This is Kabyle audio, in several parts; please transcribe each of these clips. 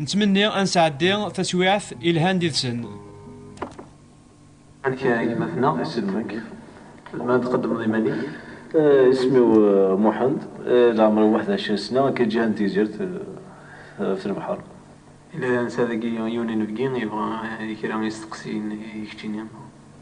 Nettmenni ad nesɛeddi taswiɛt ilhan did-sen. Amek a gma-tneɣ? Isem-k? Tzemreḍ ad d-tqeddmeḍ iman-ik? Isem-iw Muḥend, leɛmer-iw waḥed ɛecrin sna, akka i ǧǧiha n Tigzirt ɣef lebḥer. Yella netta dagi yiwen inebgi yebɣa kra isteqsiyen i keččini.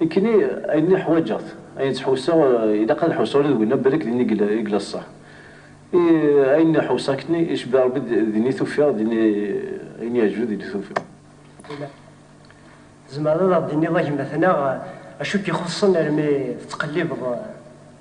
Nekkini ayen i ḥwaǧeɣ-t, ayen ttḥussaɣ ilaq ad ḥussaɣ ula d winna balak din i yella ṣṣeḥ. I ayen i ḥussaɣ kkni icebbiḥ Rebbi din i t-ufiɣ, din i ayen iɛejben din i t-ufiɣ. Yella. Tzemreḍ ad aɣ-d-tiniḍ a gma-tneɣ acu i k-ixuṣṣen armi tettqellibeḍ?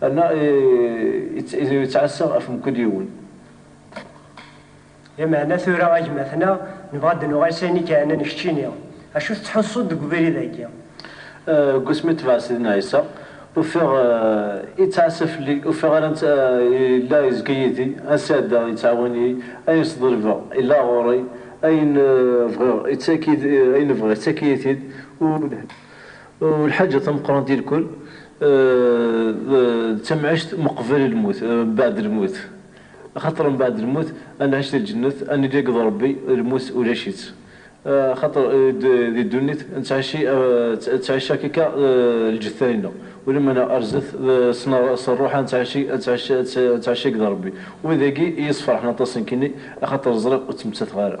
Anna yettɛassa ɣef mkul yiwen. Lameɛna tura a gma-tneɣ, nebɣa ad d-nuɣal s ayen i k-iɛnan keččini. Acu tettḥussuḍ deg ubrid-agi? Deg wasmi tebɛed Sidna Ɛisa, ufiɣ yettɛassa fell-i, ufiɣ ara netta yella yezga yid-i, ad sɛeddaɣ yettɛawan-iyi, ayen sḍelbeɣ yella ɣur-i, ayen bɣiɣ yettak-iyi-t-id, ur lhiɣ. Lḥaǧa tameqqrant di lkul d tamɛict ma qbel lmut, mbeɛd lmut. Axaṭer mbeɛd lmut ad nɛic di lǧennet, ad nili akked Ṛebbi, lmut ulac-itt. Axaṭer di ddunit nettɛici ttɛica akka lǧetta-ineɣ, ulamana ar zdat s ṛṛuḥ ad nettɛici ttɛica akked Ṛebbi. Wid-agi i yi-sferḥen aṭas nekkini, axaṭer ẓriɣ ur ttmettateɣ ara.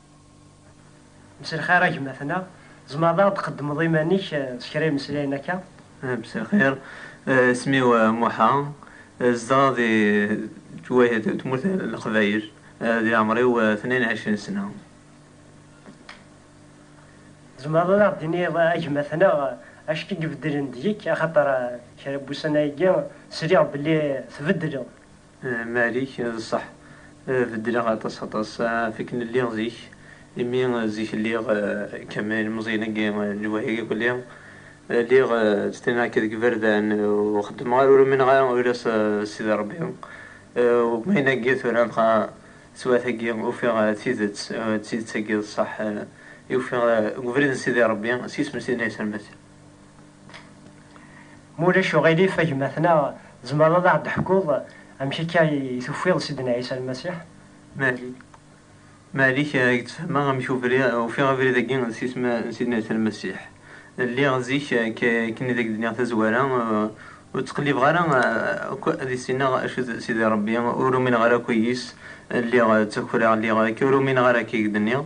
Mselxir a gma-tneɣ, tzemreḍ a ɣ-d-tqeddmeḍ iman-ik s kra imeslayen akka? Mselxir, isem-iw Muḥa, zedɣeɣ di tmurt n Leqbayel, di leɛmer-iw tnin ɛecrin sna. Tzemreḍ ad aɣ-d-tiniḍ a gma-tneɣ acu i ibeddlen deg-k, axaṭer kra n wussan-agi sliɣ belli tbeddleḍ, Malik, D ṣṣeḥ, beddleɣ aṭas aṭas ɣef akken lliɣ zik, imi zik lliɣ kem ilemẓiyen-agi n lwehhi akk li lliɣ ttnaɣ-k deg iberdan ur xeddmeɣ ara ur umineɣ ara ula s Sidi Rebbi, ma ayen agi tura dɣa teswiɛt-agi ufiɣ tidet, d tidet-agi d ṣṣeḥ i ufiɣ deg ubrid n Sidi Rebbi s yisem n Sidna Ɛisa Lmasiḥ. Ma ulac uɣilif a gma tnaɣ tzemreḍ ad aɣ-d-teḥkuḍ amek akka i tufiḍ Sidna Ɛisa Lmasiḥ? Mari, Mari-k a k-d-sfehmeɣ amek ufiɣ abrid agi d sisem n Sidna Ɛisa Lmasiḥ. Lliɣ zik akken i d ak-d-nniɣ tazwara ur ttqellibeɣ ara akk ad issineɣ acu d Sidi Rebbi, ur umineɣ ara akk yis, lliɣ ttakreɣ, lliɣ akka ur umineɣ ara akka i k-d-nniɣ.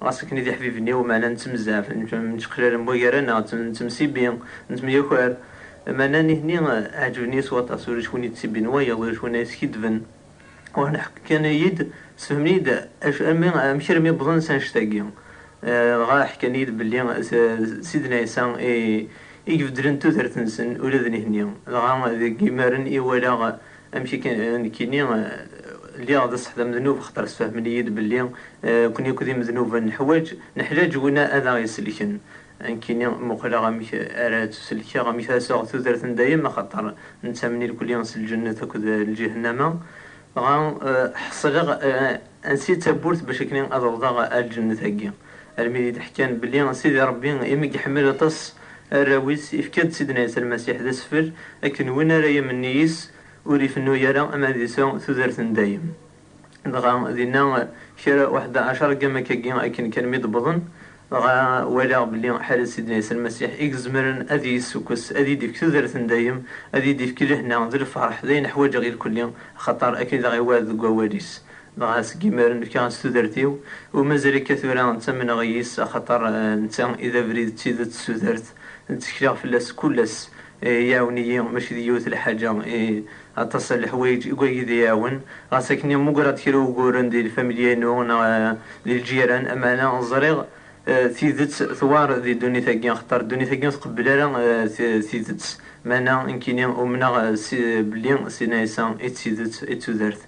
Ɣas akken i d iḥbiben-iw, meɛna nettemzaf, neččeqlalen waggar-nneɣ, nettemsibbi, nettemyaker. Meɛna nitni ɛeǧben-iyi s waṭas, ulac win yettsibbin wayeḍ, ulac win ara yeskiddben. Uḥneq kan-iyi-d, sefhmen-iyi-d amek armi wwḍen s annect-agi. Dɣa ḥkan-iyi-d belli d Sidna Ɛisa i ibeddlen tudert-nsen ula d nitni. Dɣa deg yimaren i walaɣ Amek akken nekkini lliɣ d ṣṣeḥ d amednub axaṭer sfehmen-iyi-d belli nekkni akk d imednuben neḥwaǧ neḥlaǧ win ad aɣ-iselken. Nekkini muqleɣ amek ara ttuselkeɣ amek ara sɛuɣ tudert n dayem axaṭer nettamen irkli s lǧennet akked lǧihennama dɣa ḥesleɣ Ansi d tawwurt bac akni ad awḍeɣ ar lǧennet agi? Almi d id-ḥkan belli Sidi Rebbi imi iḥemmel aṭas arraw-is ifka-d Sidna Ɛisa Lmasiḥ d asfel akken win ara yamen nnig-is ur ifennu ara am ad isa tudert n dayem. Dɣa dinna kra uḥdaɛacar gamma kagi akken kan mi d-wwḍen Dɣa walaɣ belli Ḥared Sidna Ɛisa Lmasiḥ i izemren ad iyi-issukkes, ad iyi-d-ifk tudert n dayem, ad iyi-d-ifk lehna d lferḥ, d ayen ḥwaǧeɣ ilkulli, axaṭer akken i d aɣ-iwɛed deg wawal-is. Dɣa seg yimaren fkiɣ-as tudert-iw, u mazal akka tura ttamneɣ i yis, axaṭer netta i d abrid d tidet d tudert, ttekleɣ fell-as kul ass, Iɛawen-iyi, mačči d yiwet lḥaǧa, i aṭas n leḥwayeǧ i wagi d iɛawen. Ɣas akken i mugreɣ-d kra n wuguren di lfamilya-inu neɣ di lǧiran, amaɛna ẓriɣ tidet tewɛer di ddunit-agi, axaṭer ddunit-agi ur tqebbel ara tidet. Meɛna nekkini umneɣ belli Sidna Ɛisa i d tidet, i d tudert.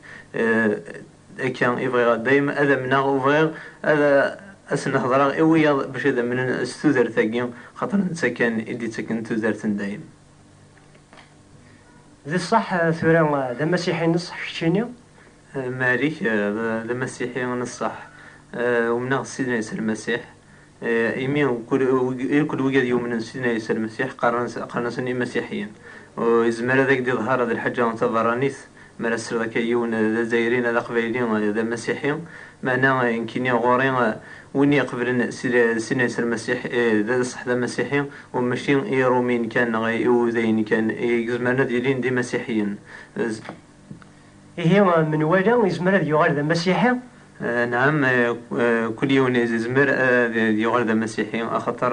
D akka i bɣiɣ a dayem ad amneɣ u bɣiɣ ad asen-hedreɣ i wiyaḍ bac ad amnen s tudert-agi xaṭer netta kan i d-ittaken tudert n dayem. D ṣṣeḥ tura d amasiḥi n ṣṣeḥ keččini? Malik, D amasiḥi n ṣṣeḥ. Umneɣ s Sidna Ɛisa Lmasiḥ. Imi akk d wigad yumnen s Sidna Ɛisa Lmasiḥ, qqaren-asen Imasiḥiyen. Ur izmer ad ak-d-iḍher d lḥaǧa taberranit mi ara tesliḍ akka i yiwen d Azzayri neɣ d Aqbayli d Amasiḥi. Meɛna nekkini ɣur-i, win iqeblen Sidna Ɛisa Lmasiḥ d ṣṣeḥ d Amasiḥi, u mačči i Iṛumiyen kan neɣ Iwudayen kan i izemren ad ilin d Imasiḥiyen. Ihi menwala izmer ad yuɣal d amasiḥi? Nɛam, kul yiwen izmer ad yuɣal d amasiḥi, axaṭer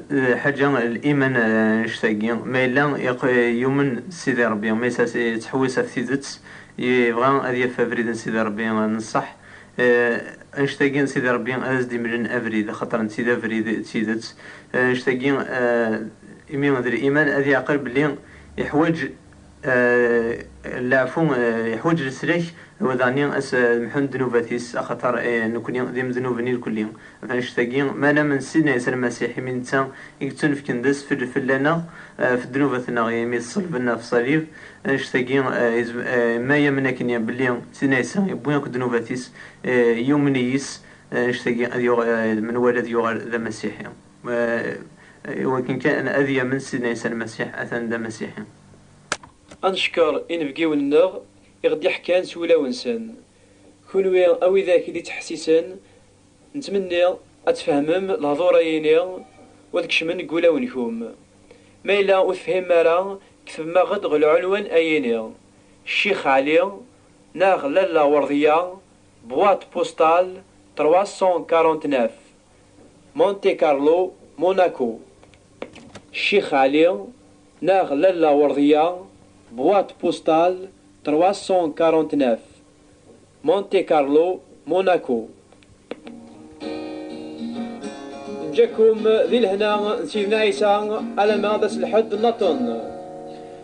lḥaǧa liman annect-agi, ma yella yumen s Sidi Ṛebbi, ma yettḥewwis ɣef tidet, yebɣa ad yaf abrid n Sidi Ṛebbi n ṣṣeḥ, annect-agi n Sidi Ṛebbi ad as-d-imlen abrid, axaṭer netta i d abrid d tidet, annect-agi imi d liman ad yeɛqel belli iḥwaǧ. Leɛfu iḥwaǧ leslak, wdani a s-mḥun ddnubat-is, axaṭer nekni d imednuben irkelli. Ɣef annect-agi, mi ara namen s Sidna Ɛisa Lmasiḥ, imi netta i yettunefken d asfel fell-aneɣ, ɣef ddnubat-nneɣ, imi i t-ṣelben ɣef ṣṣalib, annect-agi, ma yamen akken belli Sidna Ɛisa yewwi akk ddnubat-is, yumen yis-s, annect-agi ad yuɣ, menwala ad yuɣal d Amasiḥi. iwakken kan ad yamen Sidna Ɛisa Lmasiḥ, atan d Amasiḥi. Ad neckeṛ inebgiwen-nneɣ i ɣ-d-iḥekkan s wulawen-nsen. Kunwi a widak i d-ittḥessisen, nettmenni ad tfehmem lehduṛ-agi-ni u ad kecmen deg wulawen-nkum. Ma yella ur tefhimem ara, ktebem-aɣ-d ɣer lɛunwan agi-ni, Ccix Ɛli neɣ Lalla Werḍiya, boîte postale 349. Monte Carlo, Monaco, Ccix Ɛli neɣ Lalla Werdiya, boîte postale 349, Monte Carlo, Monaco. Neǧǧa-kum di lehna n Sidna Ɛisa alamma d ass n lḥedd naṭen.